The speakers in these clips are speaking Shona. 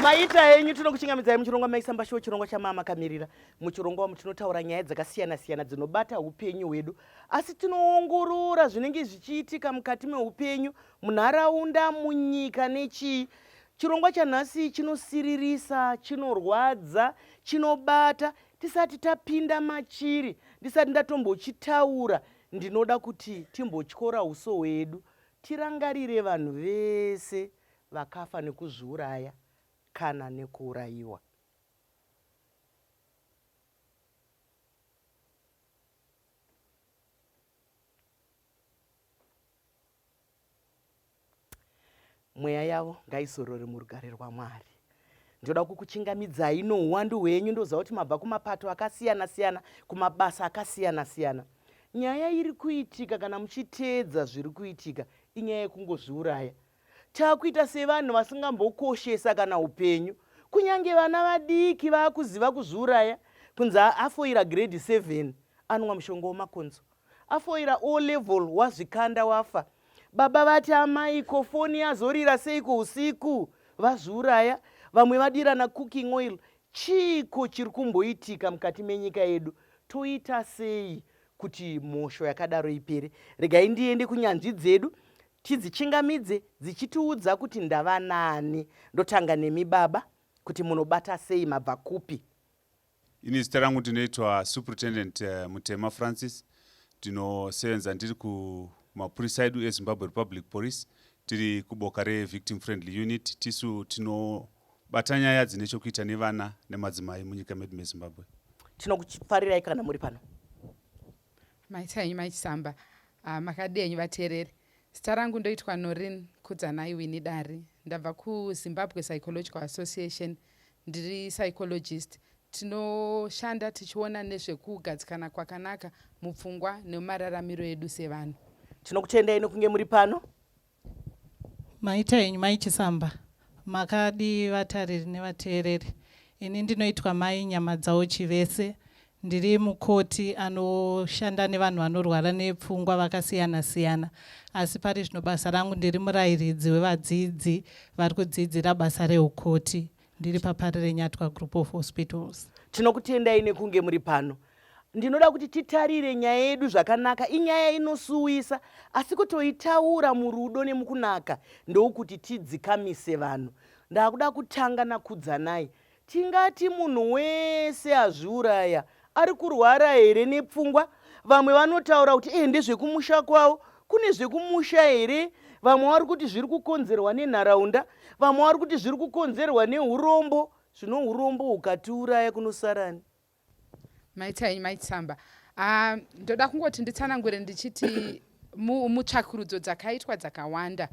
maita henyu tinokuchingamidzai muchirongwa maisamba shuwo chirongwa chamama kamirira muchirongwa wamu tinotaura nyaya dzakasiyana siyana dzinobata upenyu hwedu asi tinoongorora zvinenge zvichiitika mukati meupenyu munharaunda, munyika nechii. Chirongwa chanhasi chinosiririsa, chinorwadza, chinobata. Tisati tapinda machiri, ndisati ndatombochitaura, ndinoda kuti timbotyora uso hwedu tirangarire vanhu vese vakafa nekuzviuraya kana nekuurayiwa. Mweya yavo ngaizorore murugare rwaMwari. Ndoda kukuchingamidzai nouwandu hwenyu ndoziva kuti mabva kumapato akasiyana siyana, kumabasa akasiyana siyana. Nyaya iri kuitika kana muchiteedza zviri kuitika inyaya yekungozviuraya. Takuita sevanhu vasingambokoshesa kana upenyu. Kunyange vana vadiki vakuziva kuzviuraya kunzi afoira grade 7 anwa mushonga wemakonzo. afoira o level wazvikanda wafa baba vati amai ko foni yazorira seiko usiku vazviuraya vamwe vadirana cooking oil chiiko chiri kumboitika mukati menyika yedu toita sei kuti mhosho yakadaro ipere regai ndiende kunyanzvi dzedu tidzichingamidze dzichitiudza kuti ndavanani ndotanga nemi baba kuti munobata sei mabva kupi Ini zita rangu ndinoitwa Superintendent eh, Mutema Francis. Ndinosevenza ndiri kumapurisa edu eZimbabwe Republic Police tiri kuboka reVictim Friendly Unit. Tisu tinobata nyaya dzine chokuita nevana nemadzimai munyika medu meZimbabwe. Tinokufarirai kana muri pano. Maita henyu mai Chisamba. Ah, makadii henyu vateereri. Zita rangu ndoitwa Norin Kudzanai Winnie Dari. Ndabva kuZimbabwe Psychological Association. Ndiri psychologist. Tinoshanda tichiona nezvekugadzikana kwakanaka mupfungwa nemumararamiro edu sevanhu. Tinokutendai nekunge muri pano. Maita henyu mai Chisamba. Makadii vatariri nevateereri. Ini ndinoitwa mai Nyamadzawo Chivese. Ndiri mukoti anoshanda nevanhu vanorwara nepfungwa vakasiyana siyana. Asi pari zvino basa rangu ndiri murairidzi wevadzidzi vari kudzidzira basa reukoti. Ndiri paParirenyatwa Group of Hospitals. Tinokutendai nekunge muri pano. ndinoda kuti titarire nyaya yedu zvakanaka inyaya inosuwisa asi kutoitaura murudo nemukunaka ndoukuti tidzikamise vanhu ndakuda kutanga nakudzanai tingati munhu wese azviuraya ari kurwara here nepfungwa vamwe vanotaura kuti ende zvekumusha kwavo kune zvekumusha here vamwe vari kuti zviri kukonzerwa nenharaunda vamwe vari kuti zviri kukonzerwa neurombo zvino urombo hukatiuraya kunosarani maita henyu maitsamba ah, ndoda kungoti nditsanangure ndichiti mutsvakurudzo dzakaitwa dzakawanda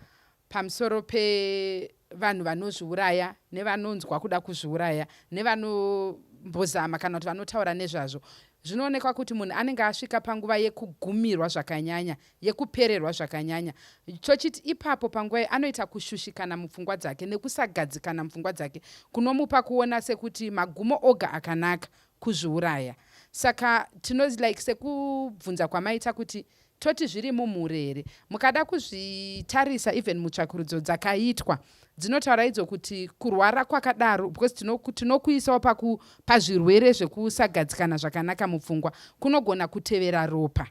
pamusoro pevanhu vanozviuraya nevanonzwa kuda kuzviuraya nevanombozama kana kuti vanotaura nezvazvo zvinoonekwa kuti munhu anenge asvika panguva yekugumirwa zvakanyanya yekupererwa zvakanyanya chochiti ipapo panguva iyi anoita kushushikana mupfungwa dzake nekusagadzikana mupfungwa dzake kunomupa kuona sekuti magumo oga akanaka kuzviuraya saka tino like sekubvunza kwamaita kuti toti zviri mumhuri here mukada kuzvitarisa even mutsvakurudzo dzakaitwa dzinotaura idzo kuti kurwara kwakadaro because tinokuisawo tino pazvirwere zvekusagadzikana zvakanaka mupfungwa kunogona kutevera ropa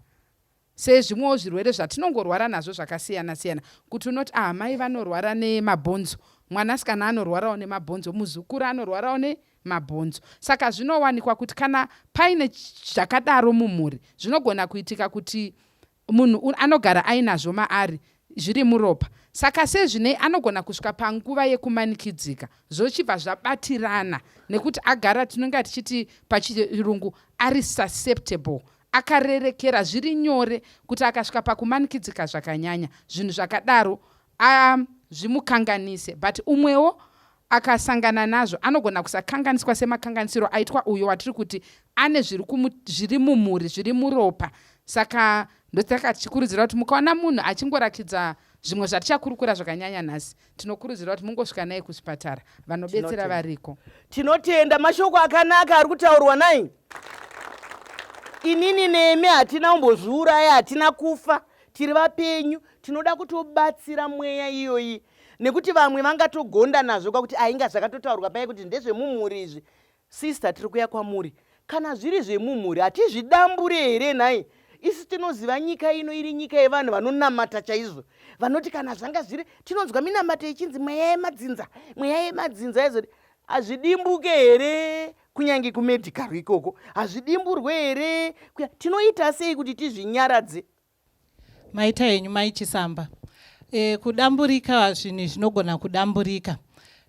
Sezvimwewo zvirwere zvatinongorwara nazvo zvakasiyana siyana kuti unoti ah mai vanorwara nemabhonzo mwanasikana anorwarawo nemabhonzo muzukuru anorwarawo ne mabhonzo saka zvinowanikwa kuti kana paine zvakadaro mumhuri zvinogona kuitika kuti munhu anogara ainazvo maari zviri muropa saka sezvinei anogona kusvika panguva yekumanikidzika zvochibva zvabatirana nekuti agara tinonga tichiti pachirungu ari susceptible Akarerekera zviri nyore kuti akasvika pakumanikidzika zvakanyanya zvinhu zvakadaro a zvimukanganise but umwewo akasangana nazvo anogona kusakanganiswa semakanganisiro aitwa uyo watiri kuti ane zviri mumhuri zviri muropa saka ndosaka tichikurudzira kuti mukaona munhu achingorakidza zvimwe zvatichakurukura zvakanyanya nhasi tinokurudzira kuti mungosvika naye kuchipatara vanobetsera variko tinotenda mashoko akanaka ari kutaurwa nai inini nemi hatina kumbozviuraya hatina kufa tiri vapenyu tinoda kutobatsira mweya iyoyi nekuti vamwe vangatogonda nazvo kwakuti ainga zvakatotaurwa paye kuti ndezvemumhuri izvi Sister tiri kuya kwamuri. Kana zviri zvemumhuri hatizvidambure here nhai? Isu tinoziva nyika ino iri nyika yevanhu vanonamata chaizvo. Vanoti kana zvanga zviri tinonzwa minamato ichinzi mweya yemadzinza, mweya yemadzinza yezoti hazvidimbuke here kunyange kumedical ikoko hazvidimburwe here tinoita sei kuti tizvinyaradze maita henyu maichisamba e, kudamburika zvinhu zvinogona kudamburika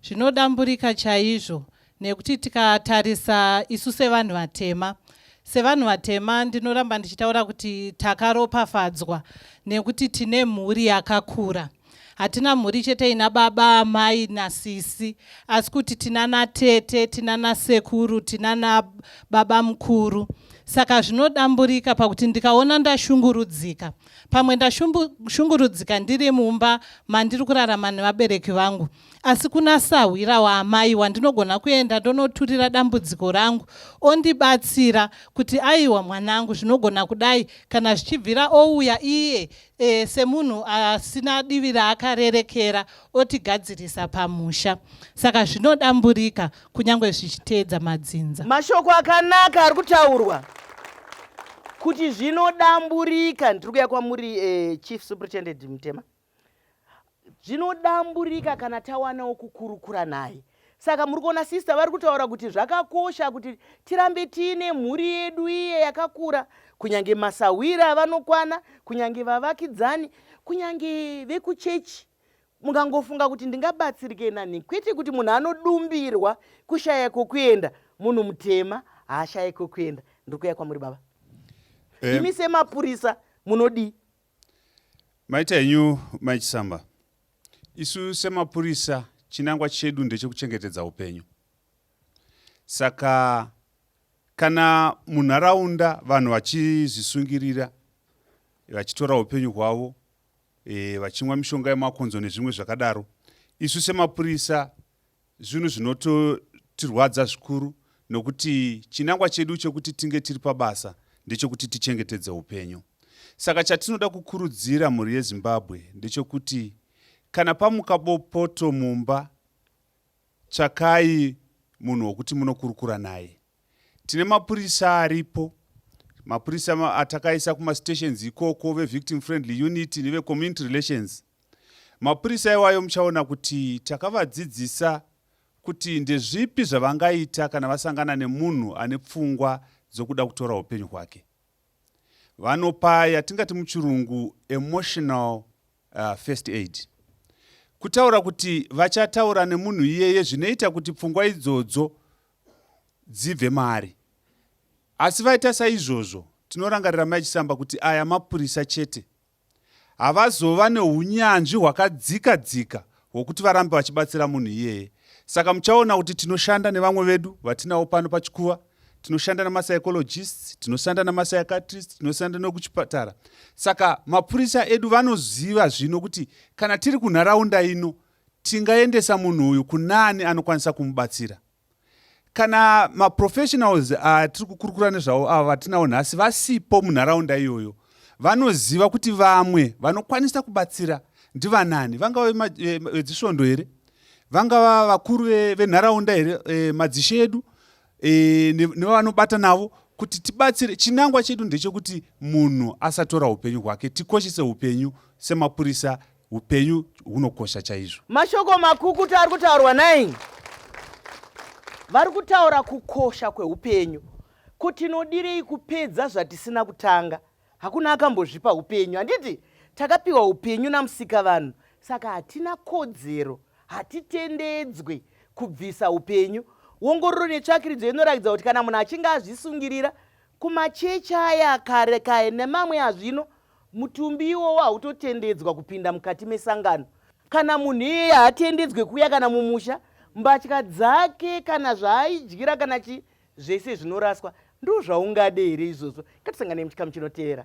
zvinodamburika chaizvo nekuti tikatarisa isu sevanhu vatema sevanhu vatema ndinoramba ndichitaura kuti takaropafadzwa nekuti tine mhuri yakakura hatina mhuri chete ina baba amai nasisi asi kuti tina natete tina nasekuru tina nababa mukuru saka zvinodamburika pakuti ndikaona ndashungurudzika pamwe ndashungurudzika ndiri mumba mandiri kurarama nevabereki vangu asi kuna sahwira waamai wandinogona kuenda ndonoturira dambudziko rangu ondibatsira kuti aiwa mwanangu zvinogona kudai kana zvichibvira ouya iye e, semunhu asina divi raakarerekera otigadzirisa pamusha saka zvinodamburika kunyange zvichiteedza madzinza mashoko akanaka ari kutaurwa kuti zvinodamburika ndiri kuya kwamuri e, chief superintendent mutema zvinodamburika kana tawana wokukurukura naye saka muri kuona sister vari kutaura kuti zvakakosha kuti tirambe tiine mhuri yedu iye yakakura kunyange masahwira avanokwana kunyange vavakidzani kunyange vekuchechi mungangofunga kuti ndingabatsirike nani kwete kuti munhu anodumbirwa kushaya kwokuenda munhu mutema haashaye kwokuenda ndiri kuya kwamuri baba eh. imi semapurisa munodii Maita henyu Mai Chisamba. Isu semapurisa chinangwa chedu ndechekuchengetedza upenyu. Saka kana munharaunda vanhu vachizvisungirira vachitora upenyu hwavo e, vachimwa mishonga yemakonzo nezvimwe zvakadaro isu semapurisa Zvinhu zvinototirwadza zvikuru nokuti chinangwa chedu chekuti tinge tiri pabasa ndechekuti tichengetedze upenyu. Saka chatinoda kukurudzira mhuri yeZimbabwe ndechekuti kana pamuka bopoto mumba, tsvakai munhu wokuti munokurukura naye. Tine mapurisa aripo, mapurisa atakaisa kumastations ikoko vevictim friendly unit nevecommunity relations. Mapurisa iwayo muchaona kuti takavadzidzisa kuti ndezvipi zvavangaita kana vasangana nemunhu ane pfungwa dzokuda kutora upenyu hwake. Vanopa yatingati muchirungu emotional uh, first aid. Kutaura kuti vachataura nemunhu iyeye zvinoita kuti pfungwa idzodzo dzibve maari. Asi vaita saizvozvo tinorangarira mai Chisamba kuti aya mapurisa chete havazova neunyanzvi hwakadzika dzika hwokuti varambe vachibatsira munhu iyeye saka muchaona kuti tinoshanda nevamwe vedu vatinawo pano pachikuva tinoshanda nemapsychologists tinoshanda nemapsychiatrist tinoshanda nekuchipatara saka mapurisa edu vanoziva zvino kuti kana tiri kunharaunda ino tingaendesa munhu uyu kunaani anokwanisa kumubatsira kana maprofessionals atiri ah, kukurukura nezvavo ava vatinawo nhasi vasipo munharaunda iyoyo vanoziva kuti vamwe vanokwanisa kubatsira ndivanani vangava vedzisvondo eh, here vangava vakuru venharaunda here eh, madzishe edu eh, nevavanobata navo kuti tibatsire chinangwa chedu ndechekuti munhu asatora upenyu hwake tikoshese upenyu semapurisa upenyu hunokosha chaizvo mashoko makukuta ari kutaurwa nai vari kutaura kukosha kweupenyu ko tinodirei kupedza zvatisina kutanga hakuna akambozvipa upenyu handiti takapiwa upenyu namusika vanhu saka hatina kodzero hatitendedzwe kubvisa upenyu wongororo netsvakiridzo inoratidza kuti kana munhu achinge azvisungirira kumachechi aya kare kaye nemamwe azvino Mutumbi iwowo hautotendedzwa kupinda mukati mesangano. Kana munhu iyeye haatendedzwe kuuya kana mumusha, mbatya dzake kana zvaaidyira kana chi zvese zvinoraswa. Ndoo zvaungade here izvozvo? Ngatisangane muchikamu chinotevera.